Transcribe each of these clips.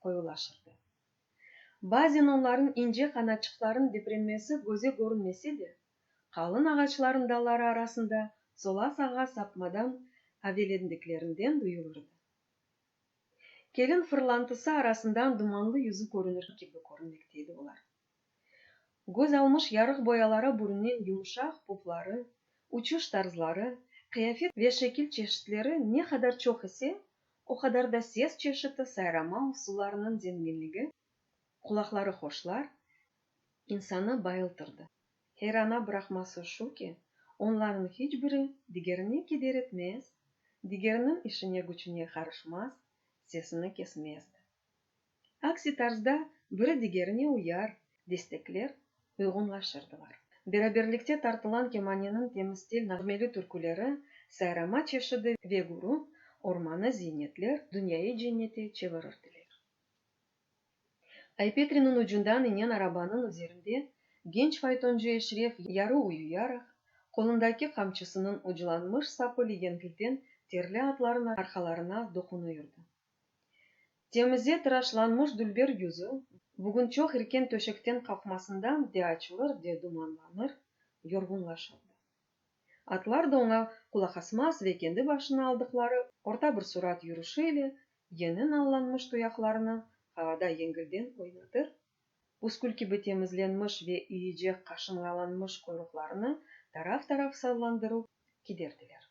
qoyulaşırdı. Bazen onların ince qanatçıqların deprenmesi göze körünmese de, qalın ağaçların dalları arasında sola-sağğa sapmadan avelendiklerinden duyulırdı. Kelin fırlantısı arasından dumanlı yüzü körünür kibi körünmekte edi olar. Göz almış yarıq boyalara bürünen yumuşaq pufları, uçuş tarzları, qıyafet ve şekil çeşitleri ne qadar çoq ise, o qadar da ses çeşiti, sayrama usullarınıñ zenginligi qulaqları hoşlar, insanı bayıltırdı. Heyrana bıraqması şu ki, onlarnıñ hiç biri digerine keder etmez, digeriniñ işine-güçüne qarışmaz, sesini kesmezdi. Aksi tarzda biri digerine uyar, destekler, uyğunlaşırdılar. Beraberlikte tartılan kemaneniñ temıstil nağmeli türküleri, sayrama çeşidi ve gürü, ormanı ziynetler, dünyayı cennete çevirirdiler. Aypetriniñ ucundan inen arabanıñ üzerinde genç faytoncı Eşref yarı uyuyaraq, qolundaki qamçısınıñ uclanmış sapı legengilden terli atlarıñ arqalarına doqunuyırdı. Temize tıraşlanmış dülber yüzü bugün çoq irken töşekten qalqmasında de açılır, de dumanlanır, yorğunlaşırdı. Atlar da oña qulaqasmaz ve kendi başına aldıqları orta bir surat yürüşi ile yeni nallanmış tuyaqlarını havada yengilden oynatır, püskül kibi temizlenmiş ve iyicek qaşınğalanmış quyruqlarını taraf-taraf sallandırıp kiderdiler.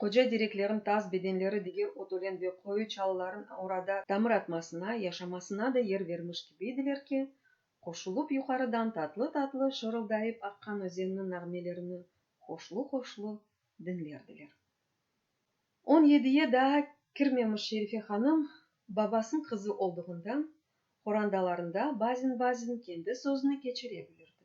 Qoca dereklerin tas bedenleri diger ot ölen ve qoyu çalıların orada tamır atmasına, yaşamasına da yer vermiş kibiydiler ki, qoşulıp yuqarıdan tatlı-tatlı şırıldayıp aqqan özenniñ nağmelerini hoşlu-hoşlu diñlerdiler. On yediye daa kirmemiş Şerife hanım babasınıñ qızı olduğından, qorandalarında bazen-bazen kendi sözüni keçire bilirdi.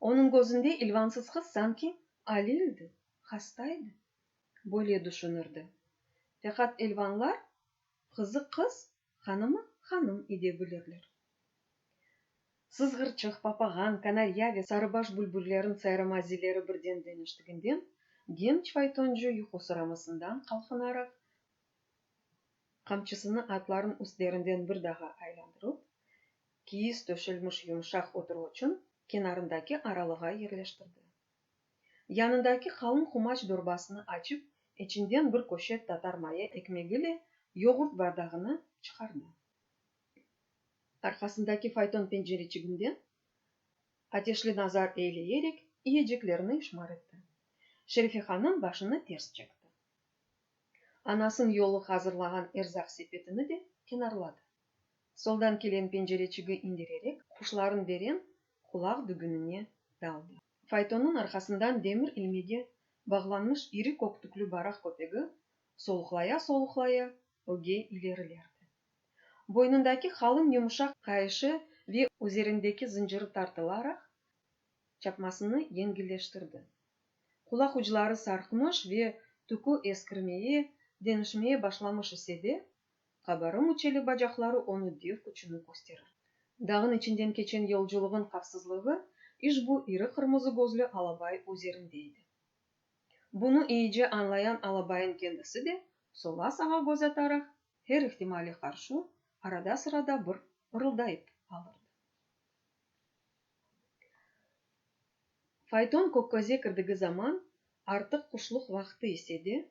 Onıñ gözünde ilvansız qız sanki alildi, hastaydı, böyle düşünirdi. Faqat ilvanlar qızı qız, hanımı hanım ede bilirler. Sızğırçıq, papağan, kanarya ve sarıbaş bülbüllerin sayramaziyleri birden deñiştiginden, genç faytoncı yuqu sıramasından qalqınaraq, qamçısını atlarnıñ üstlerinden bir daha aylandırıp, Kiyiz töşelmiş yumşaq oturuvuçın kenarındaki aralığa yerleştirdi. Yanındaki qalın qumaç dorbasını açıp, içinden bir köşet tatar maya ekmegiyle yoğurt bardağını çıqardı. Arqasındaki fayton pencereçiginden ateşli nazar eyleyerek iyeceklerni işmar etti. Şerife hanım başını ters çekti. Anasın yolu hazırlağan erzaq sepetini de kenarladı. Soldan kelen pencereçigi indirerek, quşlarnıñ veren qulaq dügünine daldı. Faytonnıñ arqasından demir ilmege bağlanmış iri kök tüklü baraq köpegi soluqlaya-soluqlaya öge ilerilerdi. Boynundaki qalın yumuşaq qayışı ve üzerindeki zıncırı tartılaraq çapmasını yengilleştirdi. Qulaq ucları sarqmış ve tükü eskirmeye, deñişmeye başlamış ise de, Qabarım uçeli bacaqları onı dev küçüni kösterir. Dağın içinden keçen yolculığın qavsızlığı işbu iri qırmızı gözlü alabay üzerinde edi. Bunı iyice añlayan alabayın kendisi de, sola-sağa göz ataraq, her ihtimale qarşı, arada-sırada bir ırıldayıp alırdı. Fayton Kökköz'e kirdigi zaman artıq quşluq vaqtı ise de,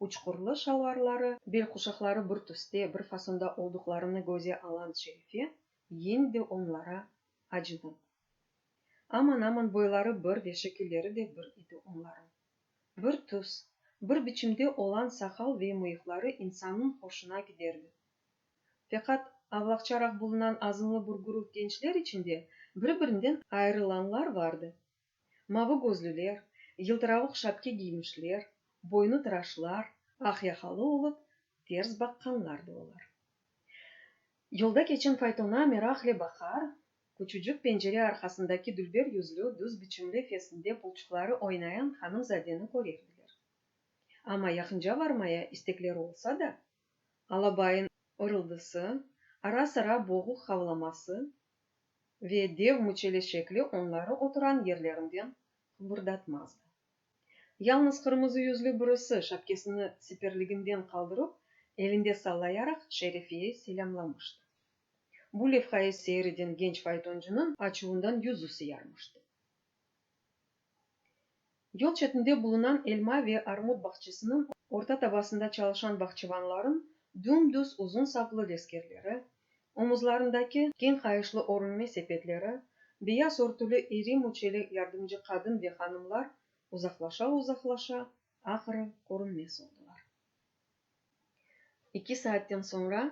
uçqurlı şalvarları, belquşaqları bir tüste, bir fasonda olduqlarını göze alan Şerife yine de onlara acıdı. Aman-aman boyları bir ve şekilleri de bir idi onlarıñ. Bir tüs, bir biçimde olan saqal ve mıyıqları insannıñ hoşuna giderdi. Feqat avlaqçaraq bulunan azımlı bir guruh gençler içinde bir-birinden ayırılanlar vardı, Mavı gözlüler, yıltıravıq şapke giymişler, boynı tıraşlar, aq yaqalı olıp, ters baqqanlar da olar. Yolda keçen faytona meraqle baqar, küçücik pencere arqasındaki dülber yüzlü, düz biçimli fesinde pulçuqları oynayan hanımzadeni körerdiler. Amma yaqınca varmaya istekleri olsa da, alabayın ırıldısı, ara-sıra boğuq havlaması ve dev müçele şekli onları oturan yerlerinden qıbırdatmazdı. Yalnız qırmızı yüzlü birisi şapkesini siperliginden qaldırıp, elinde sallayaraq Şerifiye selâmlamıştı. Bu levhayı seyir eden genç faytoncınıñ açuvından yüzü sıyarmıştı. Yol çetinde bulunan elma ve armut bağçasınıñ orta tabasında çalışan bağçıvanlarıñ düm-düz uzun saplı leskerleri, omuzlarındaki keñ qayışlı orunme sepetleri, beyaz örtüli iri müçeli yardımcı qadın ve hanımlar uzaqlaşa-uzaqlaşa, ahırı, körünmez oldılar. İki saatten soñra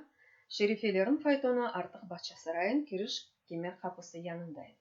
Şerifeleriñ faytonu artıq Bağçasarayıñ kiriş kemer qapısı yanında edi.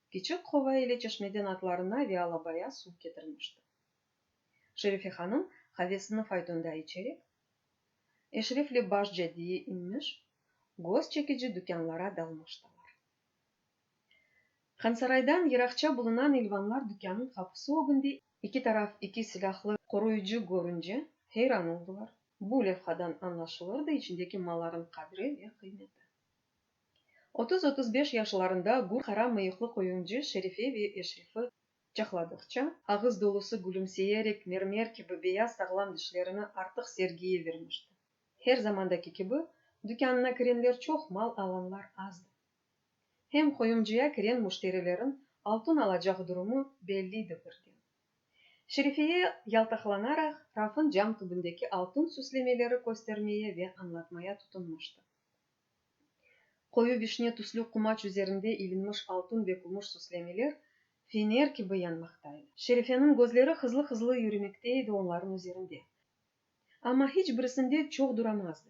Kiçik qova ile çeşmeden atlarına vealabaya suv ketirmişti. Şerife hanım havesini faytonda içerek, eşrefli baş caddeye inmiş, göz çekici dükânlara dalmıştılar. Hansaraydan yıraqça bulunan İlvanlar dükânın qapusı ögünde iki taraf iki silâhlı qoruyıcı körünce, heyran oldılar. Bu levhadan añlaşılırdı içindeki malların qadri ve qıymeti. Otuz, otuz beş yaşlarında gür qara mıyıqlı qoyuncu Şerife ve Eşrefi quçaqladıqça, ağız dolusı gülümseyerek mermer kibi beyaz sağlam dişlerini artıq sergiye vermişti. Her zamandaki kibi, dükânına kirenler çoq, mal alanlar azdı. Hem qoyuncuya kiren müşterilerin altun alacaq durumı belliydi birden. Şerifeye yaltaqlanaraq rafın cam tübündeki altun süslemeleri köstermeye ve añlatmaya tutunmıştı. Qoyu vişne tüslü qumaç üzerinde ilinmiş altun ve kümüş süslemeler fener kibi yanmaqta edi. Şerifeniñ gözleri hızlı-hızlı yürümekte edi onların üzerinde. Amma hiç birisinde çoq duramazdı.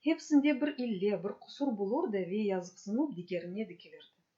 Hepsinde bir ille, bir qusur bulurdı ve yazıqsınup digerine dikilirdi.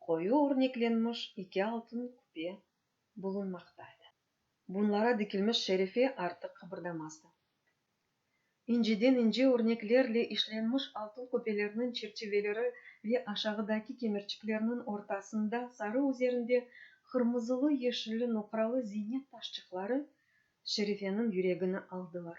Qoyu örneklenmiş eki altın küpe bulunmaqta edi. Bunlara dikilmiş şerife artıq qıbırdamazdı. İnceden ince örneklerle işlenmiş altın küpelerniñ çerçiveleri ve aşağıdaki kemerçiklerniñ ortasında sarı üzerinde qırmızılı-yeşilli noqralı ziynet taşçıqları şerifeniñ yüregini aldılar.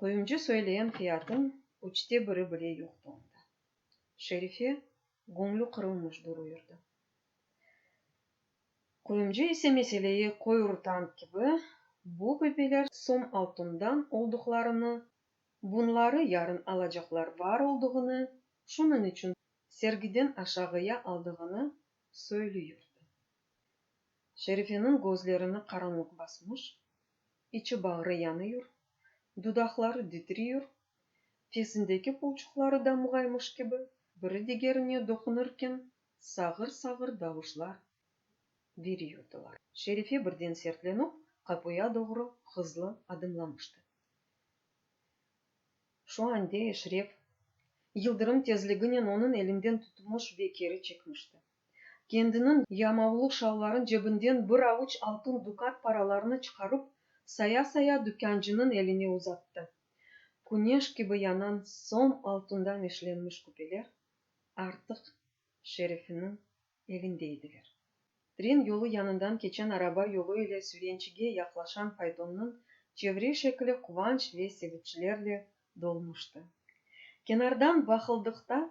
Quyumcı söyleyen fiyatın üçte biri bile yoqtı onda. Şerife göñlü qırılmış duruyırdı. Quyumcı ise meseleyi qoyurtank kibi, bu böpeler som altından olduqlarını, bunları yarın alacaqlar bar olduğını, şunıñ içün sergiden aşağıya aldığını söylüyurdı. Şerifeniñ gözlerini qaranlıq basmış, içi-bağrı yanıyur, dudaqları titriyur, fesindeki pulçuqları damğaymış kibi biri digerine doqunırken sağır-sağır davuşlar veriyordılar. Şerife birden sertlenip, qapuya doğru hızlı adımlamıştı. Şu ande Eşref, yıldırım tezliginen onıñ elinden tutmuş ve keri çekmişti. Kendiniñ yamavlı şalvarın cebinden bir avuç altın dukat paralarını çıqarıp, saya-saya dükâncınıñ eline uzattı. Küneş kibi yanan som altından işlenmiş küpeler artıq Şerefiniñ elinde ediler. Tren yolu yanından keçen araba yolu ile Sürençige yaqlaşan faytonnıñ çevre şekli quvanç ve seviçlerle dolmuştı. Kenardan baqıldıqta,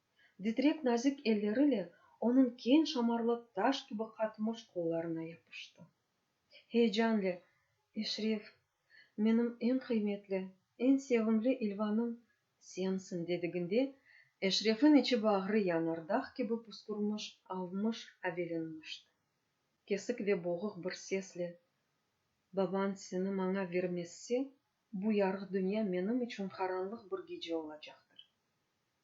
Ditrek nazik elleriyle onıñ keñ şamarlı taş kibi qatmış qollarına yapıştı. Heyecanle, Eşref, menim eñ qıymetli, eñ sevimli İlvanım, sensiñ, dediginde, Eşrefiñ içi-bağrı yanardağ kibi puskurmış, avmış, avelenmişti. Kesik ve boğuq bir sesle, Babañ seni maña vermezse, bu yarıq dünya menim içün qaranlıq bir gece olacaqtır.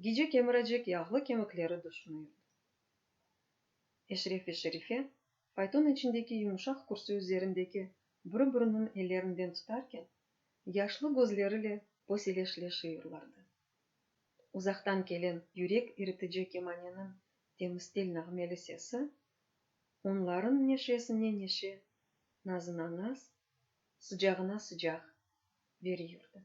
Gece kemiracek yağlı kemikleri düşünüyirdi. Eşref ve Şerife, fayton içindeki yumuşaq kürsi üzerindeki biri-biriniñ ellerinden tutarken, yaşlı gözleriyle boseleşleşiyirlardı. Uzaqtan kelen yürek iritici kemaneniñ temstil nağmeli sesi onlarıñ neşesine neşe, nazına naz, sıcağına sıcaq veriyordı.